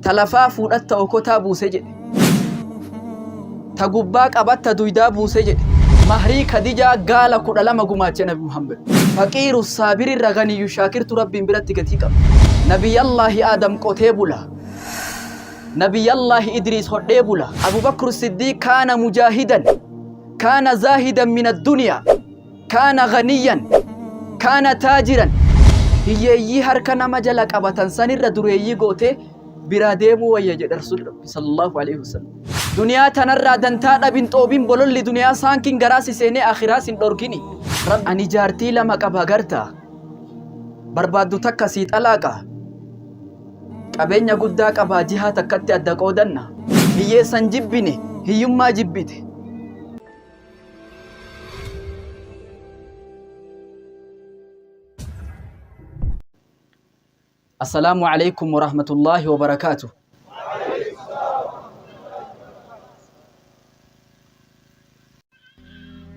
Ta lafaa fuudhatta okotaa buuse jedhe. Ta gubbaa qabatta duydaa buuse jedhe. Mahrii Kadijaa gaala kudha lama gumaache Nabi Muhammad. Faqiiru saabirirra ganiyyu shaakirtu Rabbiin biratti gatii qaba. Nabiyyallaahi Aadam qotee bula. Nabiyyallaahi Idriis hodhee bula. Abubakru Siddiiq kaana mujaahidan. Kaana zaahidan min adduniyaa. Kaana ganiyyan, kaana taajiran, hiyyeeyyii harka nama jala qabatan sanirra dureeyyii gootee biraa deemuu wayya jedhe Rasuulli Rabbi sallallahu alaihi wasallam. Duniyaa tanarraa dantaa dhabin xoobin bololli duniyaa saankin garaa si seenee akhiraa sin dhorkini. Rabbi ani jaartii lama qaba gartaa barbaaddu takka sii xalaaqa qabeenya guddaa qabaa jihaa takkatti adda qoodanna hiyyeessan jibbine hiyyummaa jibbite Assalaamu alaikum warahmatullaahi wabarakaatu.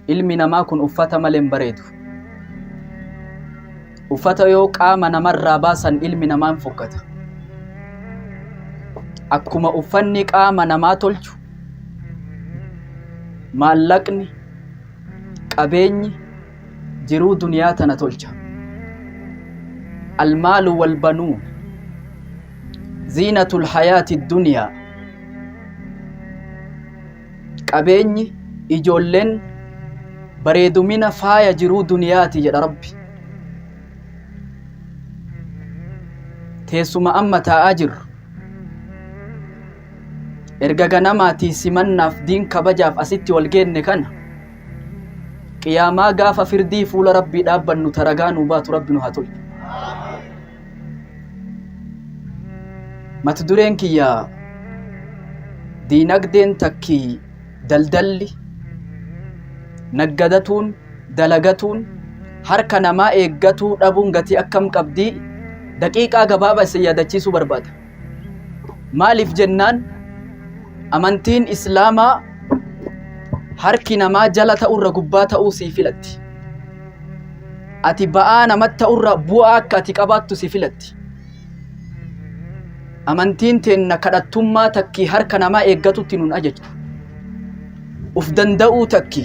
Ilmi namaa kun uffata malee hin bareedu. Uffata yoo qaama namarraa baasan ilmi namaa hin fokkata. Akkuma uffanni qaama namaa tolchu maallaqni qabeenyi jiruu duniyaa tana tolcha. Almaalu wal banuun ziinatul hayaati duniyaa. Qabeenyi, ijoolleen bareedumina faaya jiruu duniyaati jedha Rabbi. Teessuma amma taa'aa jirru. Erga ganamaatii simannaaf diin kabajaaf asitti wal geenne kana qiyaamaa gaafa firdii fuula Rabbii dhaabbannu taragaa nuu baatu Rabbi nu haa tolchu. Mata dureen kiyya diinagdeen takkii daldalli naggadatuun dalagatuun harka namaa eeggatuu dhabuun gatii akkam qabdii daqiiqaa gabaabaa isin yaadachiisuu barbaada. Maaliif jennaan amantiin islaamaa harki namaa jala ta'urra gubbaa ta'uu sii filatti. Ati ba'aa namatti ta'urra bu'aa akka ati qabaattu si filatti. Amantiin teenna kadhattummaa takkii harka namaa eeggatutti nun ajajju. Uf danda'uu takki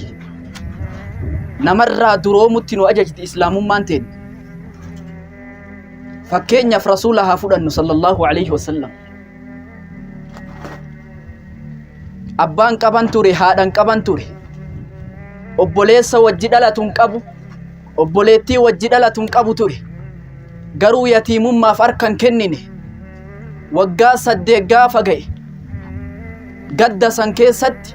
namarraa duroomutti nu ajajti islaamummaan teenna. fakkeenyaaf rasuula haa fudhannu sallallahu alaihi wasallam abbaan qaban ture haadhan qaban ture obboleessa wajji dhalatu hin qabu obboleettii wajji dhalatu hin qabu ture garuu yatiimummaaf harka hin kennine waggaa saddeet gaafa ga'e gadda san keessatti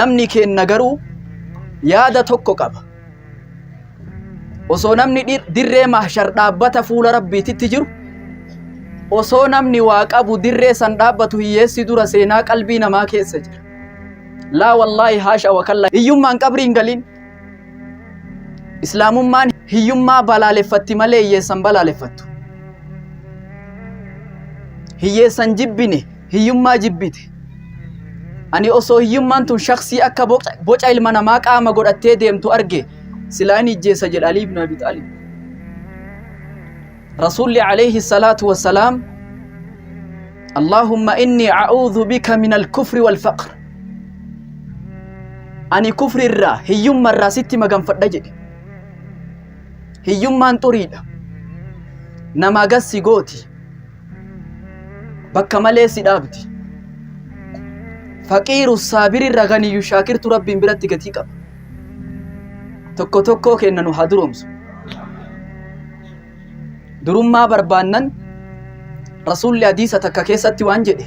namni keenna garuu yaada tokko qaba osoo namni dhir- dirree mahshar dhaabbata fuula rabbiititti jiru osoo namni waa qabu dirree san dhaabbatu hiyyeessi dura seenaa qalbii namaa keessa jira laa wallaahi haasha wakalla hiyyummaan qabriin galiin islaamummaan hiyyummaa balaaleffatti malee hiyyeessan balaaleffattu hiyyeessan jibbine hiyyummaa jibbite. Ani osoo hiyyummaan tun shaksii akka boca- boca ilma namaa qaama godhattee deemtu arge silaa hin ijjeessa jedha Alii ibn Abi Xaalib. Rasuulli alayhi salaatu wassalaam Allaahumma inni a'uudhu bika min al-kufri wal-faqr. Ani kufri irraa hiyyumma irraa sitti maganfadha jedhe. Hiyyummaan xuriidha. Namaa gassi gooti. bakka malee si dhaabdi faqiiru saabiri irra ganiyyu shaakirtu rabbiin biratti gatii qaba tokko tokkoo keenna nu haa duroomsu durummaa barbaannan rasuulli hadiisa takka keessatti waan jedhe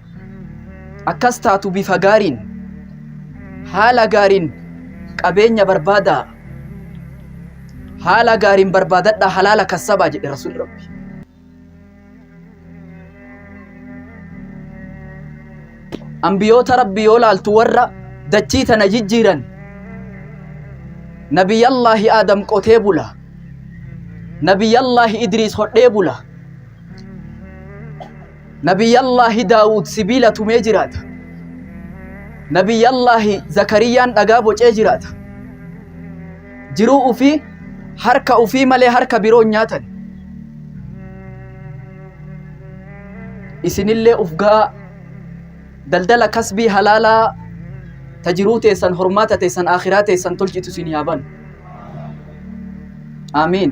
akkas taatu bifa gaariin haala gaariin qabeenya barbaadaa haala gaariin barbaadadhaa halaala kassabaa jedhe rasuulli rabbi ambiyoota rabbi yoo laaltu warra dachii tana jijjiiran nabiyyallaahi aadam qotee bula nabiyyallaahi idriis hodhee bula Nabiyyallaahi Daawud sibiila tumee jiraata. Nabiyyallaahi Zakariyyaan dhagaa bocee jiraata. Jiruu ufii harka ufii malee harka biroon nyaatan. Isinillee uf ga'aa daldala kasbii halaalaa ta jiruu teessan hormaata teessan akhiraa teessan tolchitu isin yaa banu. Aamiin.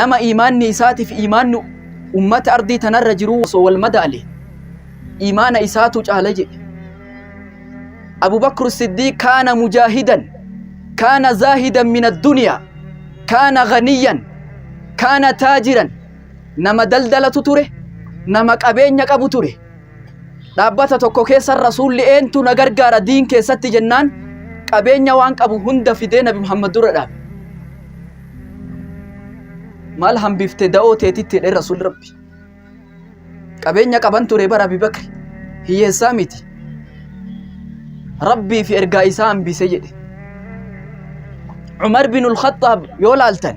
nama iimaanni isaatiif iimaanni ummata ardii tanarra jiru osoo wal madaale iimaana isaatu caala jedhe Abu Bakr Siddiiq kaana mujaahidan kaana zaahidan min addunyaa kaana ghaniyan kaana taajiran nama daldalatu ture nama qabeenya qabu ture Dhaabbata tokko keessa rasuulli eentu na gargaara diin keessatti jennaan qabeenya waan qabu hunda fidee nabi Muhammad dura dhaabe. Maal hambifte da'oo teetitti jedhee rasuulli rabbi. Qabeenya qaban ture bara Abi Bakri hiyyeessaa miti. Rabbii fi ergaa isaa hambise jedhe. Umar bin Al-Khattaab yoo laaltan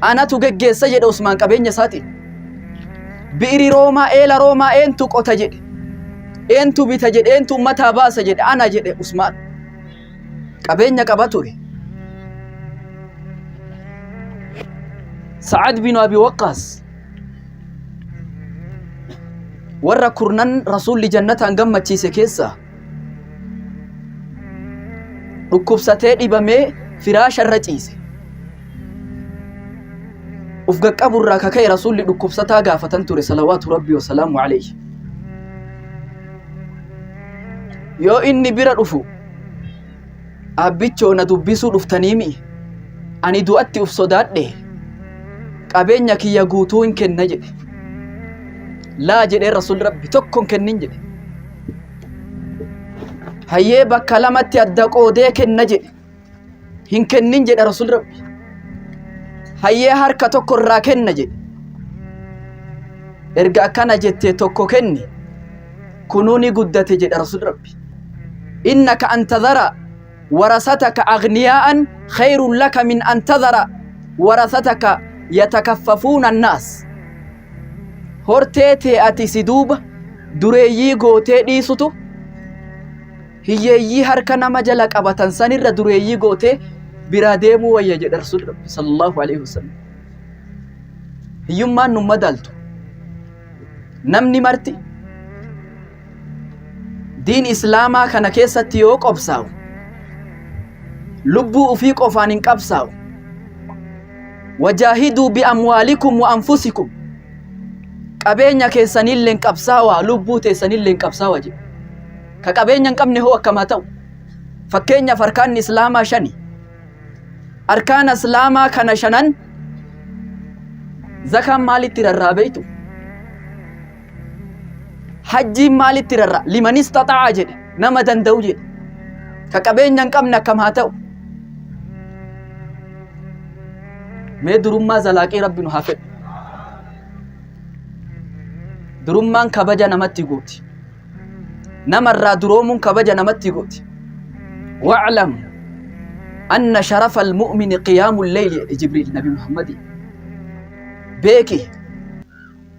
Anatu geggeessa jedhe Usmaan qabeenya isaatiin. Bi'iri Roomaa eela Roomaa eentu qota jedhe. Eentu bita jedhe eentu ummataa baasa jedhe ana jedhe Usmaan. Qabeenya qaba ture. Sa'ad bin Abi Waqqaas warra kurnan rasuulli jannataan gammachiise keessaa dhukkubsatee dhibamee firaasha irra ciise uf gaqqabu irraa ka ka'e rasuulli dhukkubsataa gaafatan ture salawaatu rabbii wasalaamu alayhi yoo inni bira dhufu abbichoo na dubbisuu dhuftaniimi ani du'atti uf sodaadhe qabeenya kiyya guutuu hin kenna jedhe laa jedhee rasuulli rabbi tokko hin kennin jedhe hayyee bakka lamatti adda qoodee kenna jedhe hin kennin jedha rasul rabbi hayyee harka tokko irraa kenna jedhe erga akkana jette tokko kenni kunuu ni guddate jedha rasul rabbi innaka an tadhara warasataka agniyaa'an khayrun laka min an tadhara warasataka yatakaffafuuna annaas hortee tee ati si duuba dureeyyii gootee dhiisutu hiyyeeyyii harka nama jala qabatan sanirra dureeyyii gootee biraa deemuu wayya jedha rasuulli rabbi sallallahu alaihi wasallam hiyyummaan nu madaaltu namni marti diin islaamaa kana keessatti yoo qobsaa'u lubbuu ufii qofaan hin qabsaa'u wajaahiduu bi'amwaalikum wa anfusikum qabeenya keessanillee hin qabsaawaa lubbuu teessanillee hin qabsaawaa jedhu ka qabeenya hin qabne hoo akkamaa ta'u fakkeenyaaf arkaanni islaamaa shani arkaana islaamaa kana shanan zakaan maalitti rarraabeytu hajjiin maalitti rarra liman istaxa'a jedhe nama danda'u jedhe ka qabeenya hin qabne akkam haa ta'u mee durummaa zalaaqii rabbi nu haa fedhu durummaan kabaja namatti gooti namarraa duroomuun kabaja namatti gooti wa'lam anna sharafa almu'mini qiyaamu lleyli jedhe jibriil nabi muhammadi beeki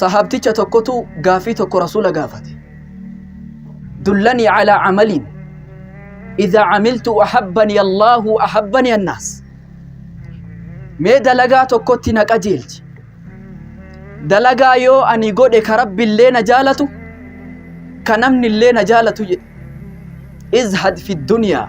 sahaabticha tokkotu gaafii tokko rasuula gaafate dullanii calaa camaliin idaa camiltu ahabbanii allaahu ahabbanii annaas mee dalagaa tokkotti na qajeelchi dalagaa yoo ani godhe ka rabbi illee na jaalatu ka namni illee na jaalatu jedhe izhad fi duniyaa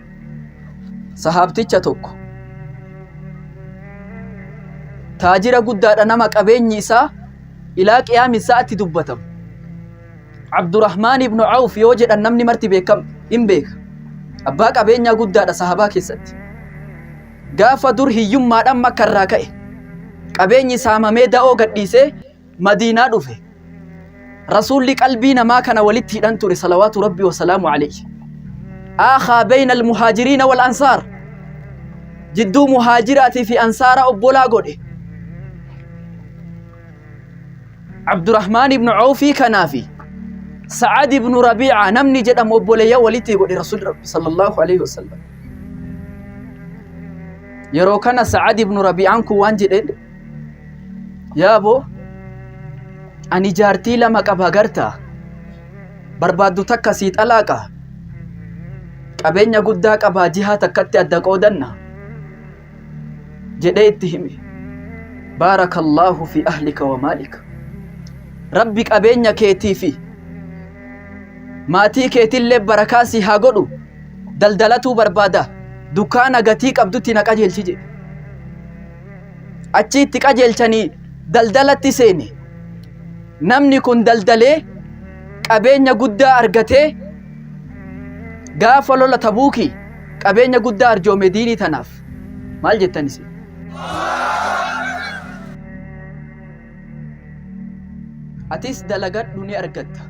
sahaabticha tokko taajira guddaadha nama qabeenyi isaa ilaa qiyaami isaatti dubbatamu abdurahmaan ibnu awf yoo jedhan namni marti beekam hin beeka abbaa qabeenyaa guddaadha sahabaa keessatti gaafa dur hiyyummaadhaan makka irraa ka'e qabeenyi saamamee da'oo gadhiisee Madiinaa dhufe. Rasuulli qalbii namaa kana walitti hidhan ture salawaatu rabbi wasalaamu alayhi. Aakhaa beeyna almuhaajiriina wal ansaar. Jidduu muhaajiraatii fi ansaara obbolaa godhe. Abdurrahmaan ibnu Awfii kanaa fi Sa'ad ibnu Rabiica namni jedhamu obboleeyya walitti godhe Rasuulli Rabbi sallallahu alayhi wasallam. Yeroo kana Sa'ad ibnu Rabiicaan kun waan jedheen Yaa boo, ani jaartii lama qaba garta. Barbaaddu takka sii xalaaqa. Qabeenya guddaa qabaa jihaa takkatti adda qoodanna. Jedhee itti hime. Baarakallaahu fi ahlika wa maalika. Rabbi qabeenya keetii fi maatii keetillee barakaa sii haa godhu. Daldalatuu barbaada. Dukkaana gatii qabdutti na qajeelchi jedhe. Achi itti qajeelchanii daldalatti seene. Namni kun daldalee qabeenya guddaa argatee gaafa lola tabuuki qabeenya guddaa arjoome diinii tanaaf. Maal jettan isin? Atis dalagadhu ni argatta.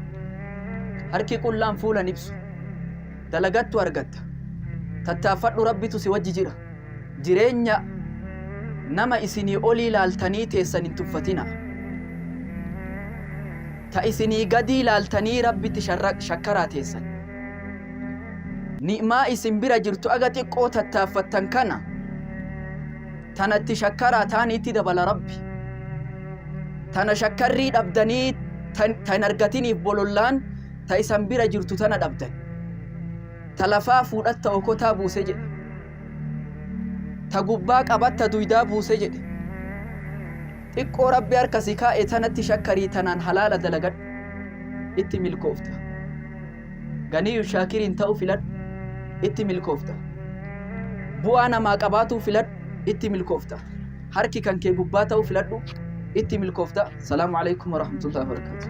Harki qullaan fuula hin ibsu. Dalagattu argatta. Tattaaffadhu rabbitu si wajji jira. jireenya nama isinii olii laaltanii teessan hin tuffatina. Ta isinii gadii laaltanii Rabbitti shakkaraa teessan. Ni'maa isin bira jirtu aga xiqqoo tattaaffattan kana tanatti shakkaraa taaniitti dabala Rabbi. Tana shakkarrii dhabdanii tan argatiniif bolollaan ta isan bira jirtu tana dhabdan. Ta lafaa fuudhatta okotaa buuse jedhe. ta gubbaa qabatta duydaa buuse jedhe xiqqoo rabbi harka si kaa'e tanatti shakkarii tanaan halaala dalagadhu itti milkoofta ganiyyu shaakiriin ta'u filadhu itti milkoofta bu'aa namaa qabaatuu filadhu itti milkoofta harki kan kee gubbaa ta'u filadhu itti milkoofta salaamu alaikum warahmatullahi wabarakatuh